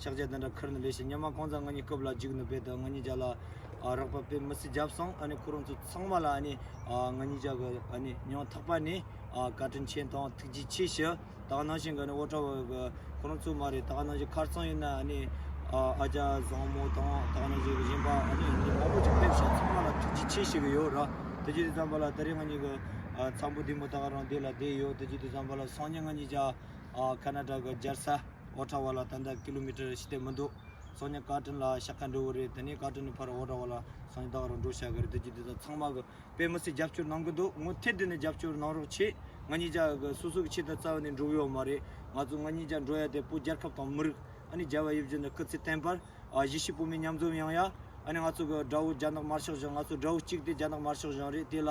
ཕྱག་རྒྱ་དང་འདྲ་ཁར་ནི་ལས་བྱེད་སྙ་མ་གང་ཚ་ང་གཉིས་སྐབས་ལ་འཇིགས་ནུབ་པས་ད་ང་གཉིས་ཅག་ལ་རག་པ་དཔེ་མི་སྲིད་བརྒྱབ་སོང་ཨ་ནི་ཁོ་རང་ཚོ་ཚང་མ་ལ་ཨ་ནི་ང་གཉིས་ཅག་གི་ཨ་ནི་ཉོན་ཐག་པ་ནི་བཀའ་དྲིན་ཆེན་དང་ཐུགས་རྗེ་ཆེ་ཞུ་ད་ག་ནང་བཞིན་ག་ནི་བོ་ཁྲ་བོ་གི་ཁོ་རང་ཚོ་མ་རེད་ད་ག་ནང་བཞིན་ཁར་ཚང་ཡིན་ན་ཨ་ནི་ཨ་ཅག་བཟང་མོ་དང་ད་ག་ནང་བཞིན་གི་གཞན་པ་ཨ་ནི་ཉིན་མང་པོ་ཅིག་ཕེབས་ཞིང་ཚང་མ་ལ་ཐུགས་རྗེ་ཆེ་ཞུ་གི་ཡོད་ར་དེ་རྗེས་དུས་ཙམ་པ་ལ་ད་རེས་ང་གཉིས་ཀྱི་ཚ་བོ་འདི་མོ་ད་ག་རང་སྡེ་ལ་བསྡད་ཡོད་དེ་རྗེས་དུས་ཙམ་པ་ལ་སང་ཉིན་ང་གཉིས་ཅག་ཀ་ན་ཀྲ་གི་སྦྱར་ས། འོག་དྲ་བ་ལ་ད་ལྟ kilometer བཞི་སྟེ་མི་འདུག་སོ་ནི་བཀའ་དྲིན་ལ་ཤ་ཁ་འགྲོ་གི་རེད་དེ་ནས་བཀའ་དྲིན་ནི་ཕར་འོག་དྲ་བ་ལ་སོ་ནི་དག་རུ་འགྲོ་བྱ་གི་རེད་དེ་རྒྱུ་དེ་དག་ཚང་མ་གི་དཔེ་མི་སྲིད་རྒྱབ་སྐྱོར་གནང་གི་འདུག་ངོ་ཐེ་དེ་ནས་རྒྱབ་སྐྱོར་གནང་རོགས་ཆེ་ང་གཉིས་ཅག་གི་སོ་སོ་གི་ཆེད་དུ་རྩ་བ་ནས་འགྲུབ་ཡོད་མ་རེད་ང་ཚོ་ང་གཉིས་ཅག་འགྲོ་ཡ་དེ་པོ་རྒྱལ་ཁབ་དང་མི་རིགས་ཨ་ནི་རྒྱལ་བ་ཡིབ་རྒྱུ་ནི་སྐུ་ཚེ་བརྟན་པར་གཞིས་བྱེས་བོད་མི་མཉམ་འཛོམས་ཡོང་ཡ་ཨ་ནི་ང་ཚོ་གི་དགྲ་བོ་རྒྱ་ནག་དམར་ཤོག་བཞག་ང་ཚོ་དགྲ་བོ་གཅིག་དེ་རྒྱ་ནག་དམར་ཤོག་བཞག་རེད་དེ་ལ